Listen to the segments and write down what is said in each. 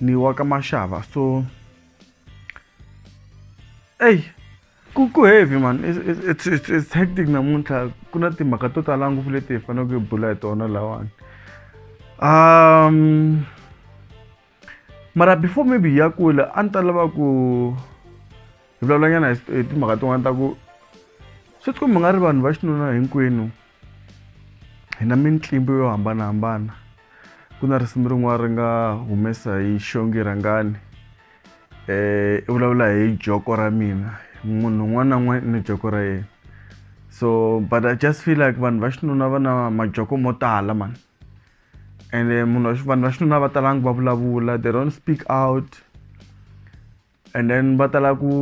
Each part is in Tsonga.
ni wa ka maxava so eyi ku ku heavy man it's, it's, it's hectic namuntlha ku na timhaka to tala ngopfu leti hi faneleke hi bula hi tona lawani um mara before maybe hi ya kula a ni ta lava ku hi vulavulanyana hi timhaka tin'wana ta ku swi tikombi nga ri vanhu va xinuna hinkwenu hi na mintlimbo yo hambanahambana ku na risimu rin'wana ri nga humesa hi xongi rhangani um i vulavula hi joko ra mina munhu un'wana na un'wana i ni joko ra yena so but i just feel like vanhu va xinuna va na majoko mo tala mani ene munhu vanhu va xinuna va talanga va vulavula they don't speak out and then batala ku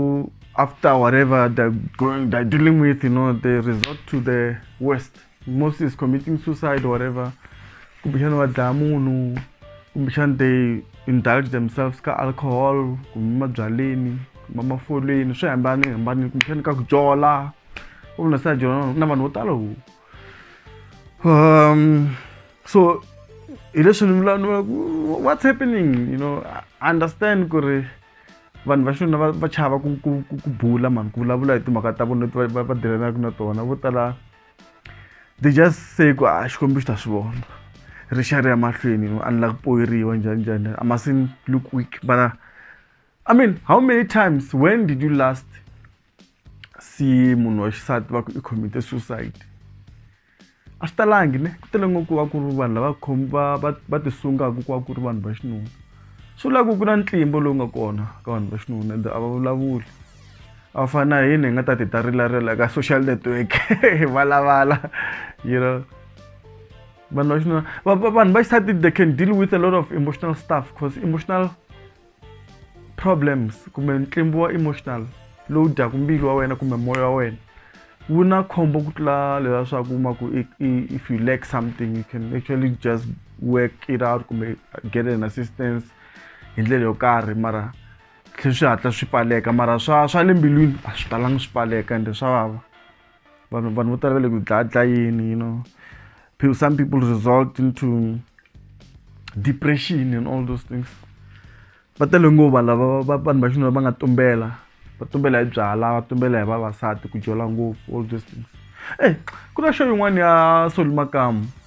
after whatever they're going they're dealing with you know they resort to the worst most is committing suicide or whatever kumbexana va dlaya munhu kumbexana they indulge themselves ka alcohol kumbe mabyaleni kumbe mafolweni swi hambane hambane kumbexana ka ku jola u vona sa jola na vanhu vo tala Um, so hi leswi ni vulavula ku what's happening you know I understand ku ri vanhu va xinuna va chava ku ku ku bula mani ku vulavula hi timhaka ta vona leti va va dirhelaka na tona vo tala they just say ku a ah, xikwembu xi ta swi vona ri xa ri ya mahlweni a ni la ku poyeriwa njhani njhani a masin look weak but uh, i mean how many times when did you last se munhu wa xisati va ku i commit-e suicide a swi talangi ne ku tele ngopfu va ku ri vanhu lava va va va ti sungaka ku va ku ri vanhu va xinuna swi vula ku ku na ntlimbo lowu nga kona ka vanhu va xinuna ende a va vulavuli a va fani na hina hi nga ta ti ta rilarila ka social network hi valavala you know vanhu va xinuna vanhu va xisati they can deal with a lot of emotional stuff cause emotional problems kumbe ntlimbo wa emotional lowu dyaku mbilu wa wena kumbe moya wa wena wu na khombo ku tlula leswaku ma ku if you lack something you can actually just work it out kumbe get an assistance hi ndlela yo karhi mara tlhe swi hatla swi pfaleka mara swa swa le mbilwini a swi talanga swi pfaleka ende swa vava vanhu vanhu vo tala va le ku dlayadlayeni you know people some people result into depression and all those things va tele nguva lava vanhu va xinuna va nga tumbela va tumbela hi byala va tumbela hi vavasati ku jola ngopfu all those things e ku na xo yin'wana ya soli makamu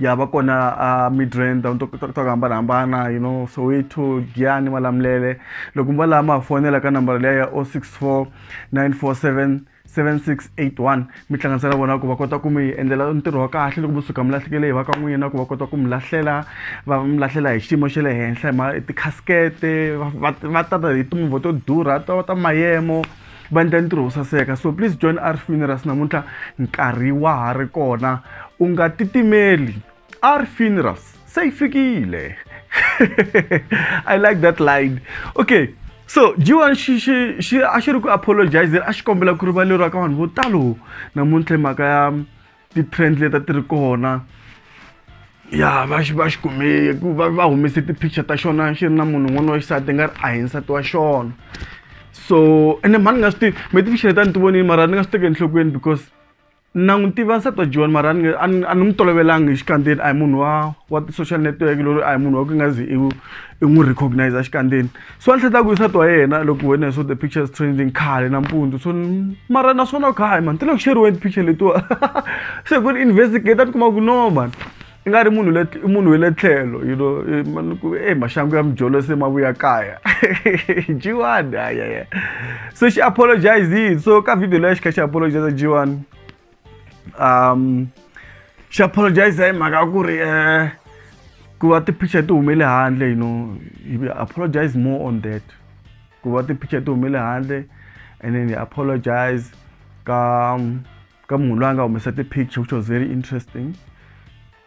ya va kona a midrand ndhawu to to hambanahambana you know soweto giyani malamulele loko mi va laha ma ha fonela ka nambara leya ya o six four nine four seven 7681 mi hlanganisa na vona ku va kota ku mi endlela ntirho wa kahle loko musuka mi lahlekele hi va ka n'wina na ku va kota ku mi lahlela va mi lahlela hi xiyimo xa le henhla hi ma tikhasikete va tata hi timovha to durha to ta mayemo va endla ntirho wo saseka so please join arf minerals namuntlha nkarhi wa ha ri kona u nga titimeli arf funerals se yi fikile i like that line okay so jiwan xi xi xi a xi ri ku apologizeni a xi kombela ku rivaleriwa ka vanhu vo talo namuntlha hi mhaka ya ti-trend leti a ti ri kona ya va va xi kume ku va va humese ti-picture ta xona xi ri na munhu un'wana wa xisati nga ri a hi nsati wa xona so ene mhani nga swi tivi me ti-picture leti a ni ti vonile mara ni nga swi teke enhlokweni because na n'wi tiva nsati wa john mara ni a ni n'wi tolovelanga hi xikandzeni a hi munhu wa wa ti-social network loyi a hi munhu wa ku nga zi i n'wi recognize xikandzeni so a ni hleta ku yisa twa yena loko wena so the pictures trending khale nampundzu so mara naswona khayi mani ti le ku xeriweni picture letiwa se ku ni investigate a ti kuma ku no mani i nga ri munhu le i munhu we le tlhelo you know eh, mani ku e maxangu ya mijolo se ma vuya kaya jiwani ayaya so xi apologizile so ka video leya xi kha xi apologize jiwani um xi apologize hi mhaka ku ri um ku va ti-picture ti humele handle you know he apologize more on that ku va ti-picture ti humele handle and then he apologize ka ka munhu loyi a nga humesa ti-picture which was very interesting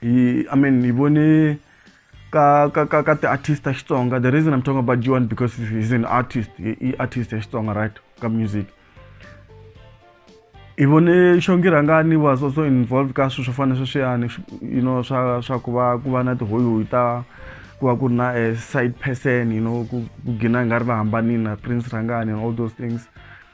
He, I mean, he vone ka ka ka ka ti-artist ta Xitsonga. The reason I'm talking about G1 because he's an artist, he, he artist ya Xitsonga, right? Ka music. Hi vone Shongi Rangani was also involved ka swilo swo fana sweswiyani, you know, swa swa ku va ku va na tihoyihoyi ta ku va ku ri na a side person, you know, ku ku gina hi nga ri va hambanile na Prince Rangani and all those things.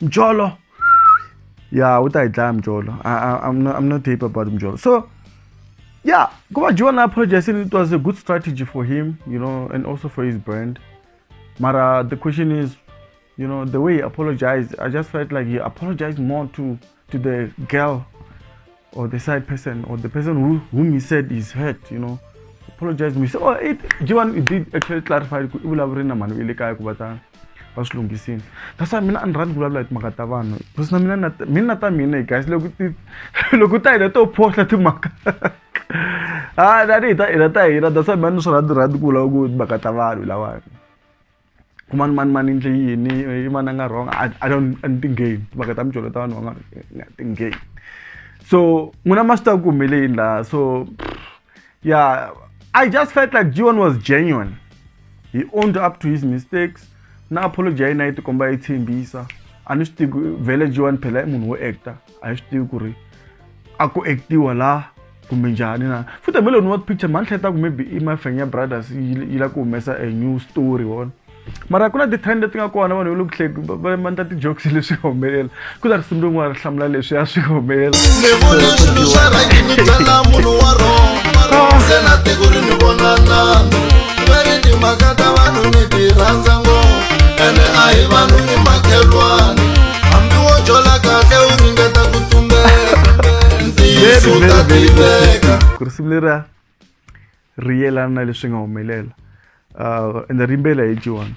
mjolo ya u ta hi dlaya mjolo I'm not, I'm not happy about mjolo so yeah ku va dyiwa na apologize it was a good strategy for him you know and also for his brand mara the question is you know the way he apologized i just felt like he apologized more to to the girl or the side person or the person who, whom he said is hurt, you know, apologize me. So, oh, it, Jivan, it did actually clarify, that's why mina a ni rhandzi vulavula hi timhaka ta vanhu because na mina mina na ta mina guys loko ti loko ta hina to phosla timhaka a tanihi ta hina ta hina that's why mina ni swi rhandzi rhandzi ku vulavula ku timhaka ta vanhu lawani mani mani mani ndle yini i mani a nga wrong a a don't a ni ti-game timhaka ta mijolo ta vanhu va nga ti-game so n'wina ma swi tiva ku humele yini laha so ya i just felt like jion was genuine he owned up to his mistakes na apology ya yena yi tikomba yi tshembisa a ni swi tivi vhele jion phela i munhu wo actor a hi swi tivi ku ri a ku actiwa la kumbe njhani na futhi hambi loko ni wa picture mani hletaku maybe i mafenya brothers yi la ku humesa a new story wona mara ku na ti-trend leti nga kona vanhu va le kuhleki va mandla ti-jokes leswi humelela ku ta risimu rin'wana ri hlamula leswi a swi humelela ene a hi vanhu i makhelwani hambi wo jola kahle u ringeta ku tumbeka ntiyiso u ta tiveka ku risimu leriya ri yelana na leswi nga humelela uh, and rimbela hi joan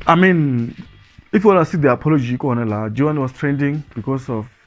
i mean if you wanna see the apology kona laha joan was trending because of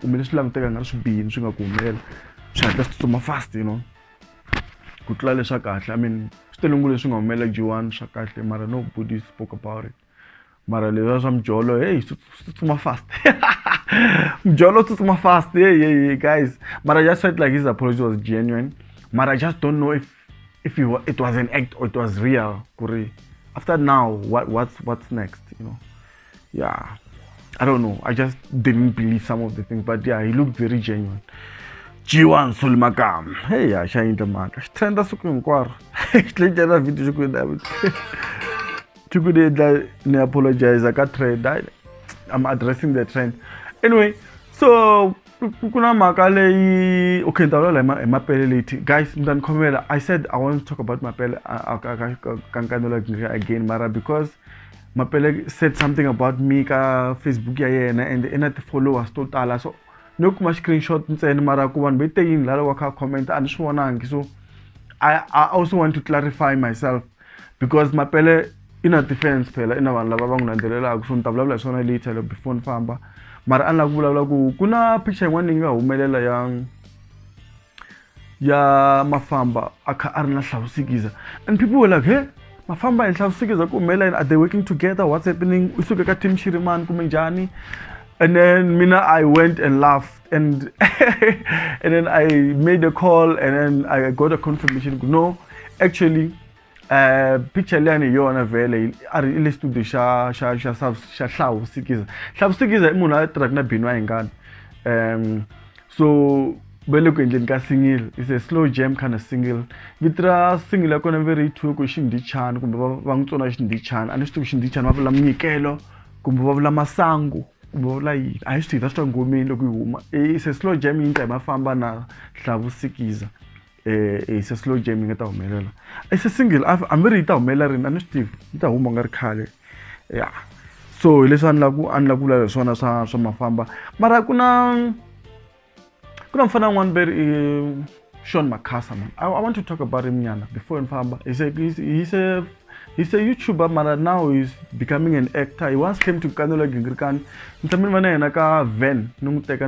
kumbe leswi languteka nga ri swi bihi ni swi nga ku humelela swi hatla swi tsutsuma fast you know ku tlula leswa kahle i mean swi tele ngopfu leswi nga humelela G1 swa kahle mara no body spoke about it mara leswa swa mujolo hey swi tsutsuma fast mujolo swi tsutsuma fast hey hey guys mara just felt like his apology was genuine mara just don't know if if you, it was an act or it was real kuri after now what what's what's next you know yeah i don't know i just didn't believe some of the things but yeah he looked very genuine G1 sul magam hey yeah shine the man trenda suku hinkwaro tlenda na video suku na suku de da ne apologize ka trend i'm addressing the trend anyway so ku ku na mhaka leyi okay ni ta vulavula hi ma- hi mapele leti guys mi ta ni khomela i said i want to talk about mapele a- a- ka- ka- ka- ka nkanelo ka- again mara because mapele said something about me ka facebook ya yena and i na ti-followers to tala so no kuma screenshot ntsena mara ku vanhu veteyini lala wa kha comment a ni swi vonangi so I, I also want to clarify myself because mapele i na defense phela i na vanhu lava va n'wi landzelelaka so ni ta vulavula hi swona later loko before ni famba mara a ni lava ku vulavula ku ku na picture yin'wana leyi nga humelela ya ya mafamba a kha a ri na hlawusikiza and people were like he mafamba hi hlawusikiza ku humelela yini are they working together what's happening u suke ka team xirimani kumbe njhani and then mina i went and laughed and and then I made a call and then I got a confirmation no actually uh picture leyani hi yona vhele a ri le studio xa xa xa xa hlawu sikiza hlawu sikiza i munhu a tirhaka na bini wa hingana um so va le ku endleni ka single is a slow jam kind of single vito ra single ya kona ve ri yi thyiwe ku xindichani kumbe va n'wi tsona xindichani a ni swi tivi xindichani va vula minyikelo kumbe va vula masangu kumbe va vula yini a hi swi tiva swi twa ngomeni loko yi huma e se slow jam yi nqema famba na hlavusikiza um se slow jam yi nga ta humelela e se single hambi ri yi ta humelela rini a ni swi tivi yi ta huma nga ri khale ya so hi leswi a ni la ku a ni la ku vula leswi swona swa swa mafamba mara ku na kuna mfana un'wana ve ri sean macasa man I, i want to talk about him nyana before ni famba he's a, he's, he's a he's a youtuber mara now he's becoming an actor he once came to kanola gingirikani ni tshame ni va na yena ka van ni n'wi teka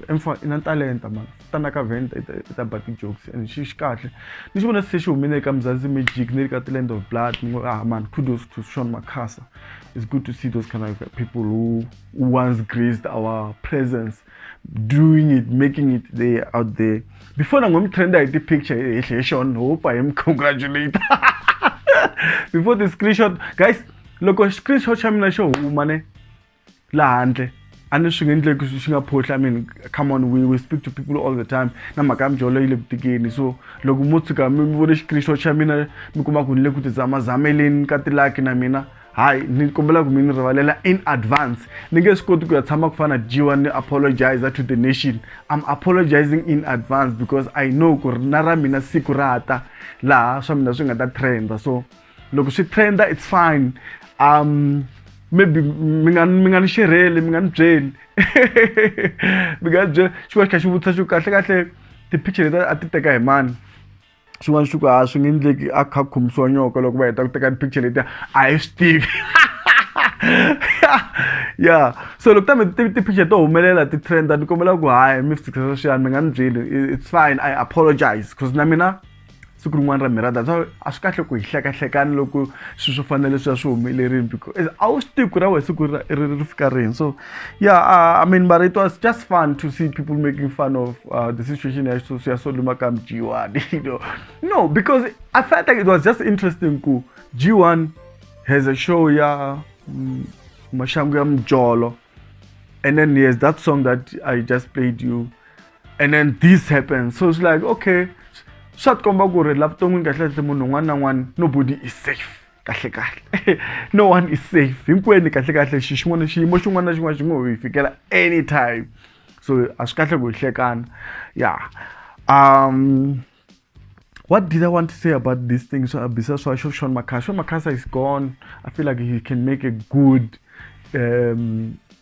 emfa i na talenta mara tana ka van i ta ba ti-jokes and xi xi kahle ni xi vona se xi humile eka mzanzi magic ni ri ka the land of blood ni ngo ah man kudos to sean macasa it's good to see those kind of people who, who once graced our presence doing it making it there out there before na ngomtrenda hi ti-picture hi hle xon hope hi mi congratulate before the screenshot guys loko screenshot xa mina xo huma ne la handle a ni swi nge endleki swi nga phohli i mean come on we, we speak to people all the time na mhaka ya mijolo yi le ku tikeni so loko mo tshuka mi vone xikristo xa mina mi kuma ku ni le ku tizamazameleni ka tilaki na mina hayi ni kombela ku mi ni rivalela in advance ni nge swi koti ku ya tshama ku fana jiwa ni apologizer to the nation i'm apologizing in advance because i know ku ri na ra mina siku ra ha ta laha swa mina swi nga ta trenda so loko swi trenda it's fine um maybe mi nga mi nga ni xerheli mi nga ni byeli mi nga ni byeli xi va xi kha xi vutisa xo kahle kahle ti-picture leti a ti teka hi mani xin'wana xi ku a swi nge endleki a kha a khomisiwa nyoka loko va heta ku teka ti-picture letiya a hi swi tivi ya so loko kambe ti-picture to humelela ti-trend-a ni kombela ku hayi mi swi tshikisa sweswiyani mi nga ni byeli it's fine I apologise cause na mina siku rin'wana ra mhera that's why a swi kahle ku hi hlekahlekana loko swilo swo fana na leswiya swi humelerile a wu swi tivi ku ra wena siku ri fika rini so. yeah uh, i mean but it was just fun to see people making fun of uh, the situation at Sosiyasoduma Kam G1 you know no because i felt like it was just interesting cool G1 has a show yeah mm, Mashangam Jolo and then yes that song that i just played you and then this happens so it's like okay swa tikomba ku ri la vuton'wini kahle kahle munhu un'wana na un'wana nobody is safe kahlekahle no one is safe hinkwenu kahlekahle xi xin'wana xiyimo xin'wana na xin'wana xi ngo hi fikela anytime so a swi kahle ku hi hlekana ya um what did i want to say about this thing so abisa swa xo shon makhasa shon makhasa is gone i feel like he can make a good um,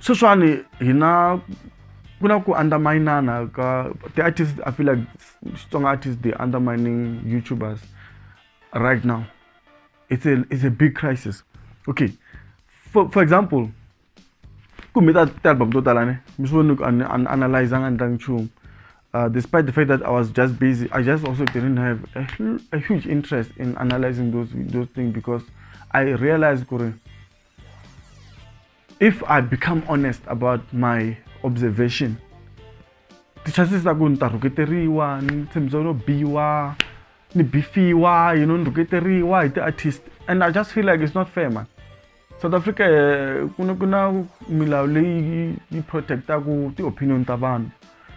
sweswiwani hi na ku na ku underminana ka ti-artist i feel like xitsonga artist they undermining youtubers right now it's a, it's a big crisis okay for, for example kumbe ta ti-album to tala ne mi swi voni ku analyzanga ni tlangi nchumu uh, despite the fact that I was just busy, I just also didn't have a, a huge interest in analyzing those those things because I realized, Kuri, if i become honest about my observation ti-chances ta ku ni ta rhuketeriwa ni tshembisa no biwa ni bifiwa you know ni rhuketeriwa hi ti-artist and i just feel like it's not fair man south africa eh, ku na ku na milawu leyi yi- yi protectaku ti-opinion ta vanhu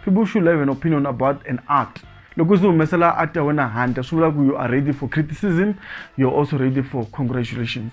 people should have an opinion about an art loko se humesela art ya wena handle swi vula ku you are ready for criticism you're also ready for congratulations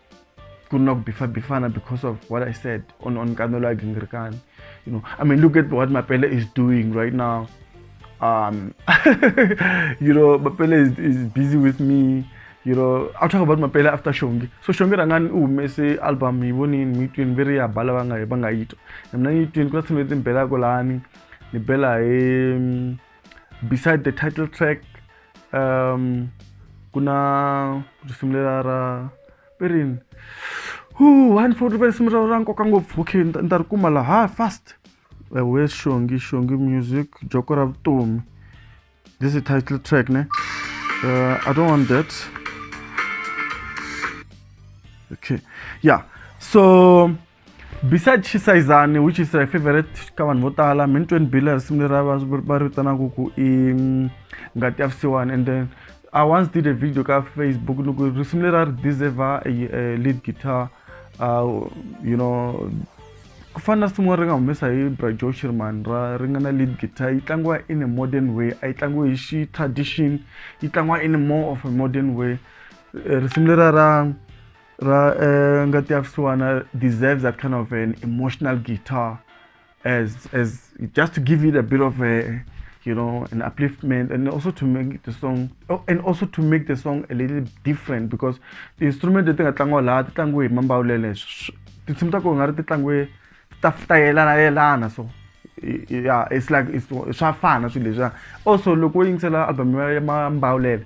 ku ri na ku bifabifana because of what i said on on kanelo ya gingirikani you know i mean look at what mapele is doing right now um you know mapele is, is busy with me you know i'll talk about mapele after shongi so shongi rangani u humese album hi vonini mi twini ve ri ya bala va nga va nga yi twa na mina ni yi twini ku na tshimi leti ni belaka lani ni bela hi beside the title track um ku na risimu lela ra i rini hu one forty five risimu ra ra nkoka ngopfu okay ni ta- ni ta ri kuma laha fast we xongi xongi music joko ra vutomi this is title track ne uh, i don't want that okay yeah so beside xisayizani which is a favorite ka vanhu vo tala min 20 bill risimu leri va ri vitanaka ku i mm, ngati ya vusiwani and then i once did a video ka facebook loko risimu leri a ri deserve lead guitar uh, you know ku fana na risimu ri nga humesa hi bra joe shirman ra ri nga na lead guitar yi tlangiwa in a modern way a yi tlangiwa hi xi tradition yi tlangiwa in more of a modern way eh, risimu lera ra Ra uh, ngati ya vusiwana deserves that kind of an emotional guitar as as just to give it a bit of a you know an upliftment and also to make the song oh, and also to make the song a little different because the instrument leti nga tlangiwa laha ti tlangiwe hi mambawulele tinsimu ta kona nga ri ti tlangiwe ta ta yelana yelana so yeah it's like it's swa fana swilo leswiya also loko wo yingisela album ya mambawulele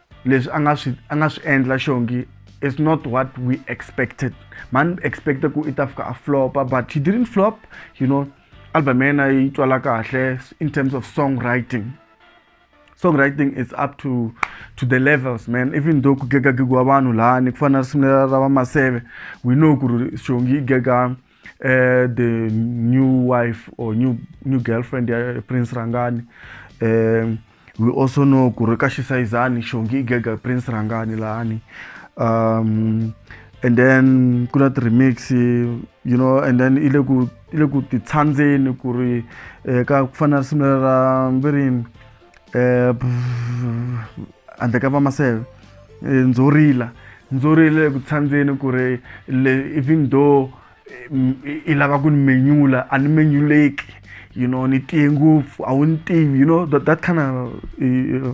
leswi a nga swi a nga swi endla xongi is not what we expected man expecte ku i ta fika a flopa but he didn't flop you know album ya yena yi twala kahle in terms of songwriting songwriting is up to to the levels man even though ku gegagegiwa vanhu lani ku fana na risimu ra vamaseve we know ku ri xongi yi gega uh, the new wife or new new girlfriend ya prince rangani um we also know ku ri ka xisayizani xongi i gega prince rangani lahani um and then ku na ti-remix you know and then i le ku i le ku titshandzeni ku ri eh, ka ku fana na risimu ra virini eh, handle ka vamaseve eh, ndzo rila ndzo rila eku tshandzeni ku ri even though eh, i lava ku ni menyula a ni menyuleki you know ni tiye ngopfu a wu ni tivi you know that, that kind of,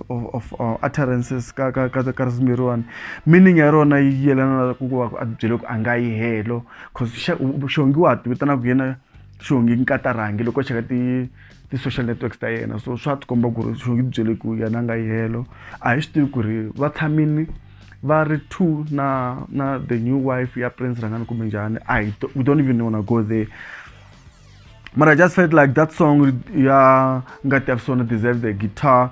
of, of uh, utterances ka ka ka ka risimu leriwani meaning ya rona yi yelana na ku va a byele ku a nga yi helo cause xongiwa ti vitanaka yena xongi nkatarangi loko xeka ti ti-social networks ta yena so swa ti komba ku ri swi ngi byele ku yena nga yihelo a hi swi tivi ku ri va tshamini va ri two na na the new wife ya prince rhangani kumbe njhani a hi we don't even wanna go there mara I just felt like that song ya ngati ya visona deserve the guitar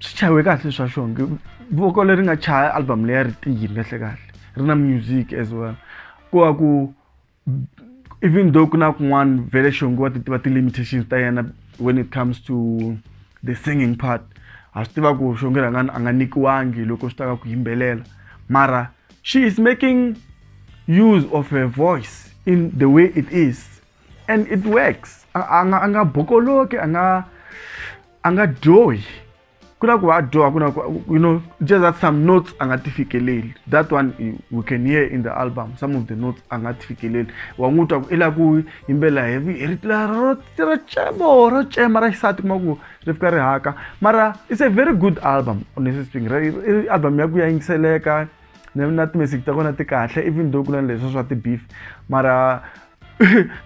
swi chayiwe kahle swa xonge voko leri nga chaya album leya ri tiyile kahle kahle ri na music as well ku va ku even though ku na kun'wana vele xonge wa ti tiva ti-limitations ta yena when it comes to the singing part ha swi tiva ku xonge rhanga a nga nyikiwangi loko swi ta ka ku yimbelela mara she is making use of her voice in the way it is and it works a a nga a nga bokoloki a nga a nga dyohi ku na ku va dyoha ku na ku you know just that some notes a nga ti fikeleli that one we can hear in the album some of the notes a nga ti fikeleli wa n'wi twa ku i la ku yimbela hi hi ri la ro ro cemo ro cema ra xisati kuma ku ri fika ri haka mara it's a very good album honestly speaking i album ya ku ya yingiseleka na na ti-message ta kona ti kahle even though ku na leswi swa ti-beef mara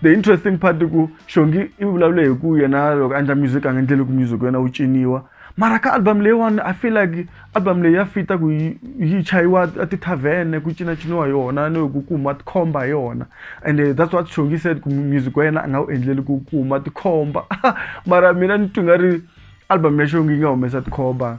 the interesting part ku xongi i vulavule hi ku yena loko a endla music a nga endleli ku music wena wu ciniwa mara ka album leyiwani i feel like album leyi ya fita ku yi chayiwa a tithavhene ku cinaciniwa hi yona ni ku kuma tikhomba hi yona and eh, that's what xongi said ku music wa yena a nga wu endleli ku kuma tikhomba mara mina ni twi nga ri album ya xongi yi nga humesa tikhomba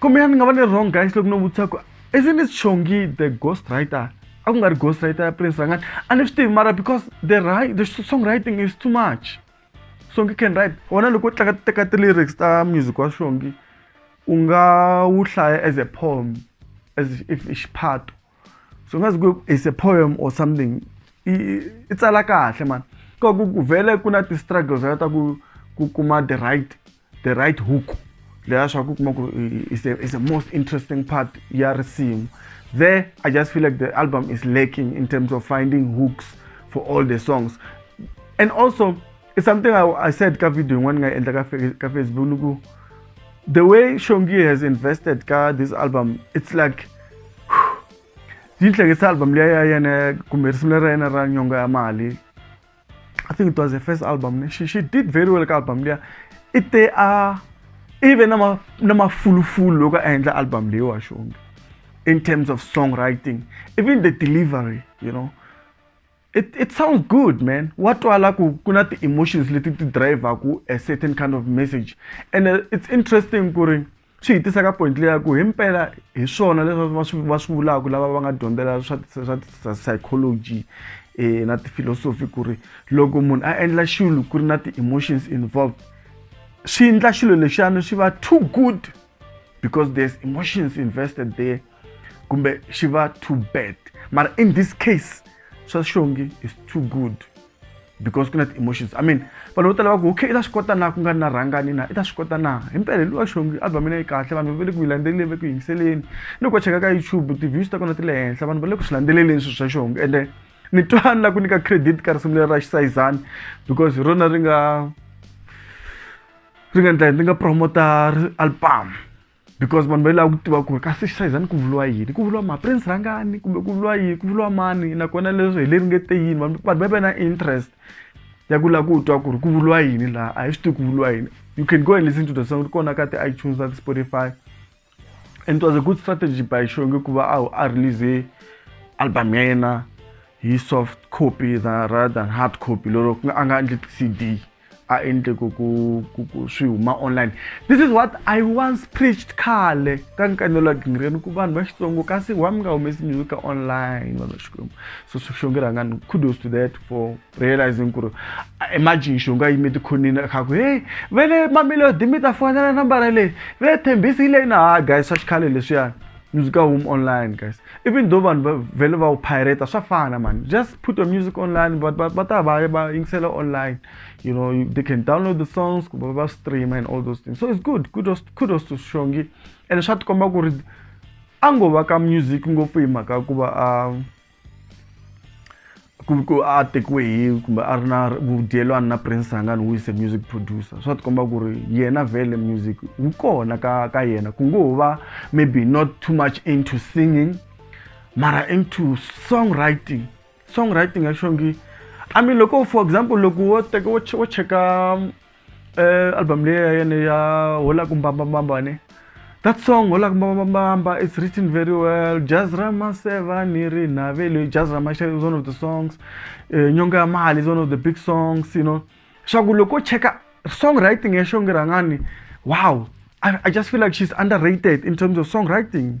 kombe yani ni nga va ni ri wrong guys loko no vutisa ku is ni xongi the ghost writer a ku nga ri ghost writer ya prince rangani a ni swi tivi mara because the, right, the song writing is too much songi can write wona loko u tlanga teka ti-lyrics ta music wa xongi u nga wu hlaya as a poem as if i xiphato so ngazi ku is a poem or something i tsala kahle mani ka ku ku vele ku na ti-struggles ta ku ku kuma the right the right hook leya swa ku kuma ku is the, is the most interesting part ya risimu there i just feel like the album is lacking in terms of finding hooks for all the songs and also it's something i, I said ka video yin'wana nga endla ka facebook ni ku the way shongi has invested ka this album it's like yi hlekisa album leyi ya yena kumbe risimu leri ra yena ra nyonga ya mali i think it was the first album she, she did very well ka album leya i te a i ve na mafulufulu loko a endla album leyi wa xonge in terms of songwriting even the delivery you know it, it sounds good man wa twala ku ku na ti-emotions leti ti drivaku a certain kind of message and uh, it's interesting ku ri swi hi tisa ka point leyi ya ku hi mpela hi swona leswi va swi va swi vulaka lava va nga dyondzela swa swa psychology um na tifilosofi ku ri loko munhu a endla xilo ku ri na ti-emotions involved swi endla xilo lexiyani swi va too good because there's emotions invested there kumbe xi va too bad mara in this case swa xongi is too good because ku na ti-emotions i mean vanhu vo tala va ku okay i ta swi kota na ku nga ri na rhangani na i ta swi kota na hi mpela luwa xongi album ina yi kahle vanhu va le ku yi landzeleleni va ku yingiseleni ni ku va cheka ka youtube ti-views ta kona ti le henhla vanhu va le ku swi landzeleleni swilo swa xongi ende ni twani la ku nyika credit ka risimu leri ra xisayizani because hi rona ri nga ri nga ndla ni nga promota album because vanhu va lava ku tiva ku ri ka six size a ni ku vuriwa yini ku vuriwa maprince rhangani kumbe ku vuriwa yini ku vuriwa mani nakona leswi hi le ringete yini vanhu vanhu va va na interest ya ku lava ku twa ku ri ku vuriwa yini laha a hi swi tivi ku vuriwa yini you can go and listen to the song ri kona ka ti-itunes na ti-spotify and it was a good strategy by shonge ku va a a release album ya yena hi soft copy than rather than hard copy lero a nga endli cd a endle ku ku ku ku swi huma online this is what i once preached khale ka nkanelo wa gingireni ku vanhu va xitsongo kasi wa mi nga humesi music ka online vanhu va xikwembu so xonge rhangani kudos to that for realizing ku ri imagine xonge a yime tikhonini a kha ku hey ve le mamelodi mi ta fonela nambara leyi ve thembisi yi leyi na ha guys swa xikhale leswiyani music ka home online guys even though vanhu va vhele va wu pirate swa fana mani just put your music online but va ta va va yingisela online you know they can download the songs kumbe va stream and all those things so it's good kudos kudos to shongi and swa tikomba ku ri a ngo va ka music ngopfu hi mhaka ku va a um, ku ri ku a tekiwe hi kumbe a ri na vudyelwani na prince rangani who is a music producer swa tikomba ku ri yena vele music wu kona ka ka yena ku ngo va maybe not too much into singing mara into song writing song writing ya xongi i mean loko for example loko wo teka wo wo cheka eh, album leyi ya yena ya hola ku mbambambamba ne that song hola ku mbambambamba it's written very well jazz rama seva ni ri navelo jazz rama is one of the songs eh, nyonga ya mali is one of the big songs you know swa ku loko cheka songwriting ya xonge rhangani wow I, I just feel like she's underrated in terms of songwriting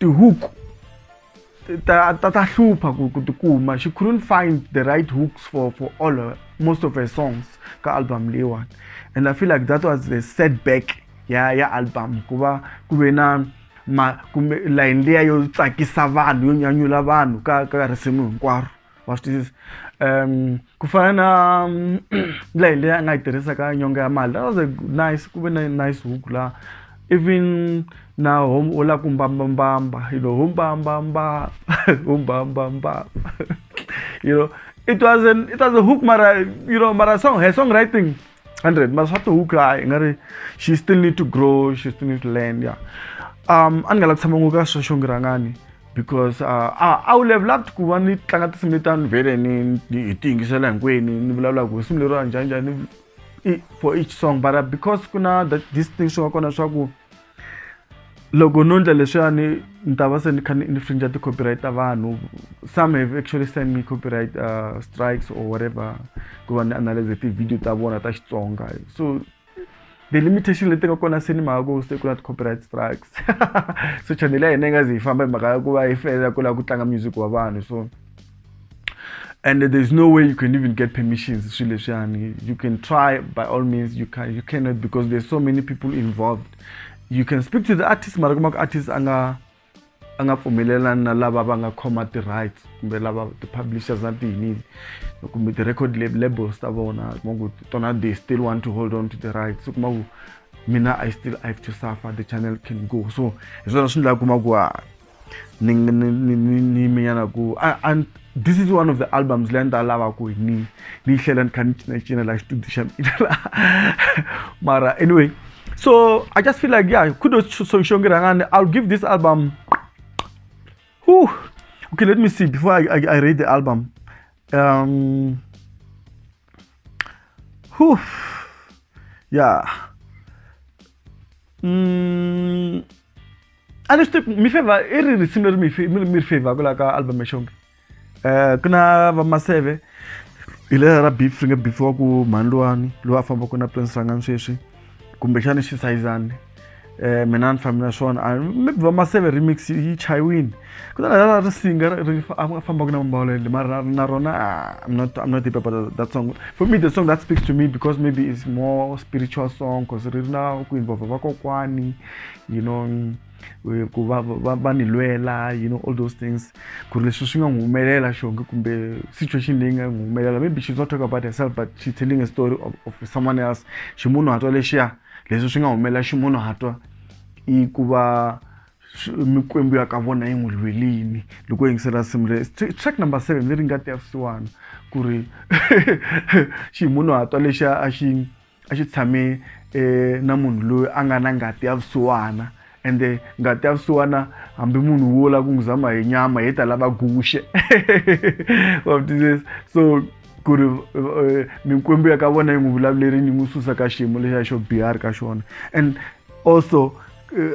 Tihuku ta, ta, ta hlupha ku, ku tikuma she couldn't find the right hooks for, for all her, most of her songs ka album leyiwani and i feel like that was the setback ya ya album ku va ku ve na ma kumbe layini liya yo tsakisa vanhu yo nyanyula vanhu ka ka risimu hinkwaro Watch this. Um, ku fana na um, ndlela leyi a nga yi tirhisaka nyonga ya mali. That was a nice, ku ve na nice hook la. Even na home u lava ku mbambambamba, you know, home mbambamba, home mbambamba. you know, it was an it was a hook mara, you know, mara song, her songwriting 100 mara swa to hook hayi nga ri she still need to grow, she still need to learn, yeah. Um, a ni nga la ku tshama ngopfu ka swa xongirangani. because uh, a a wu level up ku va ni tlanga tinsimu letani vhele ni hi ti yingisela hinkwenu ni vulavulaka ku risimu leriwa njhani njhani for each song but uh, because ku na this thing swi nga kona swa ku loko no ndla leswiyani ni ta va se ni kha ni infringe ti-copyright ta vanhu some have actually send me copyright uh, strikes or whatever ku va ni analyze ti-video ta vona ta xitsonga so the limitation leti nga kona se ni mhaka ku se ku na ti-copyright strikes so channel ya hina yi nga zi yi famba hi mhaka ya ku va yi felela ku lava ku tlanga music wa vanhu so and there's no way you can even get permissions swilo leswiyani you can try by all means you can you cannot because there's so many people involved you can speak to the artist mara kuma ku artist a nga a nga pfumelelani na lava va nga khoma ti-rights kumbe lava ti-publishers na tiyinini kumbe ti-record labels ta vona kuma ku tona they still want to hold on to the rights kuma ku mina i still i have to suffer the channel can go so hi swona swi ndla kuma ku a ni ni ni ni ni minyana ku a this is one of the albums leyi a ni ta lava ku ni ni yi hlela ni kha ni cinacina laha xitudio xa mina laha mara anyway so i just feel like yeah kudos so xongi rhangani i'll give this album Whew. okay let me see before i, I, I read the album um whew, yeah mm, a ni swi tivi ku mi favor i ri risimu leri mi mi ri favor ku la ka album ya xonge um ku na va maseve hi lela ra beef ri nge beef wa ku mhani luwani loyi a fambaka na prince rangani sweswi kumbexana xi sayizani um mina ni fambi na swona maybe va maseve remix yi chayiwini ku ta lela ri singa ri fambaka na mambawula yele mara na rona i'm not i'm not deep about that song for me the song that speaks to me because maybe it's more spiritual song because ri ri na ku involve vakokwani you know eh, ku va va va ni lwela you know all those things ku ri leswi swi nga n'wi humelela xonge kumbe situation leyi nga n'wi humelela maybe she's not talking about herself but she's telling a story of, of someone else ximunhu hatwa lexiya leswi swi nga humelela ximunhu hatwa i ku va mikwembu ya ka vona yi n'wi lwelini loko yingisela simu le track number seven leri nga ti ya swisiwana ku ri ximunhu hatwa lexiya a xi a xi tshame um na munhu loyi a nga na ngati ya vusiwana ende ngati ya vusiwana hambi munhu wo lava ku n'wi zama hi nyama hi ta lava guxe wa vutwisisa so ku ri eh, mikwembu ya ka vona yi n'wi vulavulerini yi n'wi susa ka xiyimo lexiya xo biha a ri ka xona and also eh,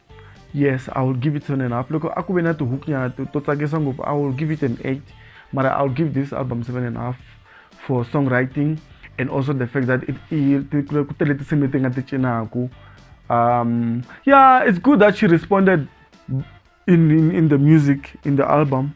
yes i will give it seven and a half loko a ku ve na tihook nyana to tsakisa ngopfu i will give it an eight mara i will give this album seven and a half for songwriting and also the fact that it ku tele tinsimu leti nga ti cinaku um yeah it's good that she responded in, in, in the music in the album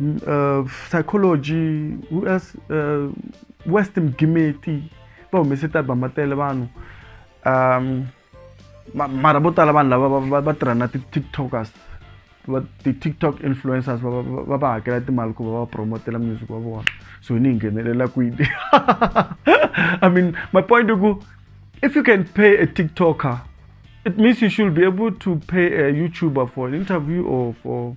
uh, psychology US, uh, western gimeti va humese tialbum va tele vanhu um mara vo tala vanhu lava va tirha na ti-tiktokers ti-tiktok influencers va va hakela timali ku va va promotela music wa vona so ni hi nghenelela kwini i mean my point i ku if you can pay a tiktoker it means you should be able to pay a youtuber for an interview or for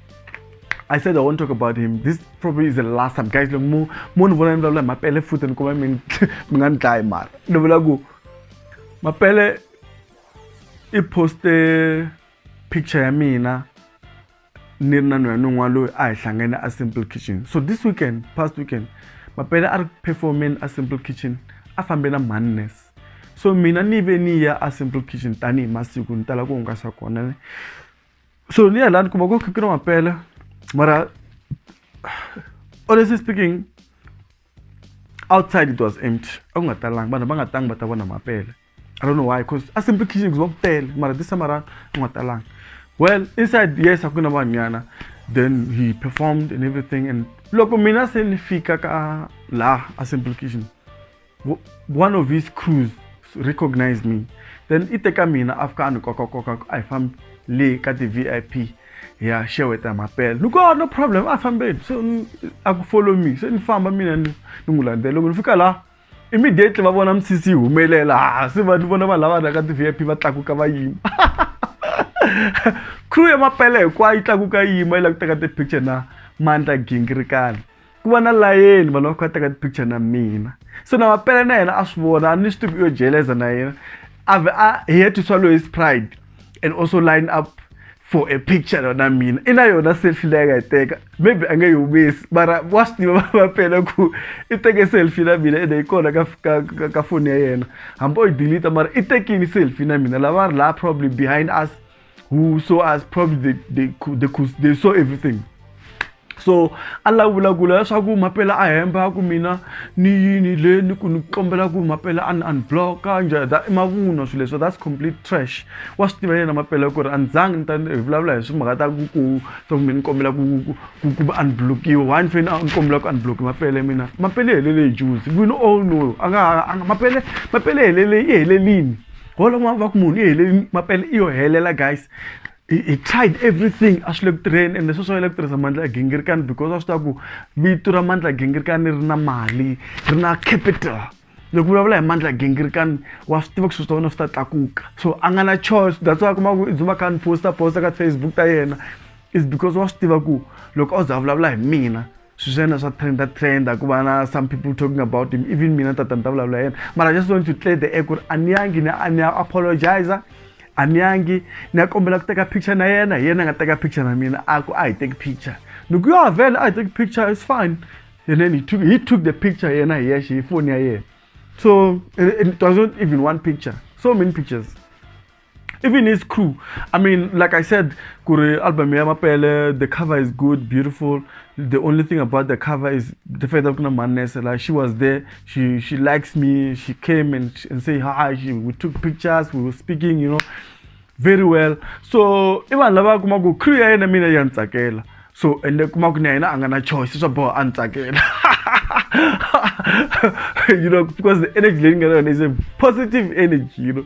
I said I won't talk about him. This probably is the last time. Guys, look, mo mo ni vona ni vulavula hi mapele futhi ni kuma mi mi nga ni dlayi mara. Ni vula ku mapele i poste picture ya mina ni ri na nhoya ni un'wana loyi a hi hlangene a simple kitchen so this weekend past weekend mapele a ri performeni a simple kitchen a fambe na mannes so mina ni ve ni ya a simple kitchen tanihi masiku ni tala ku hungasa kona so ni alani kuma ko kikira ma pele mara honestly speaking outside it was empty akungatalanga vanhu va nga tangi va ta vona mapele i don't know why because a simple kitchen kuziva kupele mara this time around ku nga talanga well inside yes a ku na vanhwanyana then he performed and everything and loko mina se ni fika ka laha a simple kitchen one of his crews recognized me then i teka mina a fika a ni kokakoka a hi fambi le ka ti-vip ya xeweta mapela ni ko no problem a fambeni se a ku follow me se ni famba mina ni ni n'wi landzela loko ni fika laha immediately va vona misisi yi humelela ha se va ni vona vanhu lava rhaka ti-vip va tlakuka va yima crew ya mapela hinkwayo yi tlakuka yi yima yi la ku teka ti-picture na mandla gingirikani ku va na layeni vanhu va kha va teka ti-picture na mina so na mapele na yena a swi vona a ni swi tivi yo jeleza na yena a vhe a he to swallow his pride and also line up for a picture yona mina i na yona selfie leyi nga yi teka maybe a nge yi humesi mara wa swi tiva va pela ku i teke selfie na mina ende yi kona ka ka ka, ka foni ya yena hambi o yi delete mara i tekini selfie na mina lava ri laha probably behind us who saw us probably they, they, could, they, could, they saw everything so a la vulavula leswaku mapela a hemba ku mina ni yini le ni ku ni kombela ku mapela a ni unblocka njhani that i mavunwa swilo leswo that's complete trash wa swi tiva yena mapela ku ri a ni zangi ni ta hi vulavula hi swimhaka ta ku ku ta ku mi ni kombela ku ku ku va unblockiwa why ni fanele ni kombela ku unblocki mapele mina mapele helele hi juzi we all know a nga mapele mapele helele i helelini wona n'wana va ku munhu i hele mapele i yo helela guys he, he tried everything a swi le ku tirheni ende sweswo a le ku tirhisa mandla ya gingirikani because a swi tiva ku vito ra mandla ya gingirikani ri na mali ri na capital loko vulavula hi mandla ya gingirikani wa swi tiva ku swilo swa wena swi ta tlakuka so a nga na choice that's why kuma ku i dzuma kha ni posta posta ka facebook ta yena is because wa swi tiva ku loko a za vulavula hi mina swi swa yena swa trenda trenda ku va na some people talking about him even mina tata ni ta vulavula yena but i just want to clear the air ku ri a ni yangi ni a ni ya apologizer a ni yangi ni ya kombela ku teka picture na yena hi yena a nga teka picture na mina a ku a hi teki picture ni ku yo avela a hi teki picture it's fine and then he took, he took the picture yena hi yexe hi foni ya yena so it, it wasn't even one picture so many pictures even his crew i mean like i said kuri album ya mapele the cover is good beautiful the only thing about the cover is the fact that kuna manese like she was there she she likes me she came and, and say hi she, we took pictures we were speaking you know very well so i vanhu lava kuma ku crew ya yena mina ya ni tsakela so ende kuma ku na yena a nga na choice swa boha a ni tsakela you know because the energy leyi ni nga na yona is a positive energy you know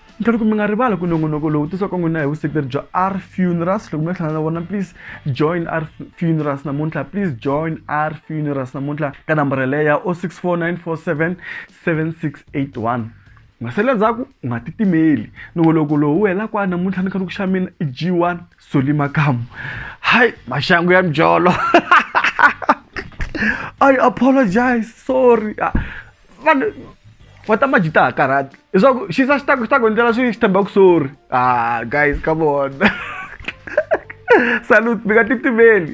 ni tlhela ku mi nga rivali ku nongonoko lowu tisiwaka n'wina hi vuseketeri bya r funerals loko mi nga hlangana na vona please join r funerals namuntlha please join r funerals namuntlha ka nambara leyi ya 0649477681 masele ndzhaku u nga titimeli nongoloko lowu wu hela kwani namuntlha ni kha ni ku xa mina i g1 soli makamu hayi maxangu ya mjolo i apologize sorry ah. vanhu va ta maji ta ha karhati leswaku xi sa xi ta xi ta ku endlela swi xi tshemba ku sorry ah guys come on salute mi nga titimeli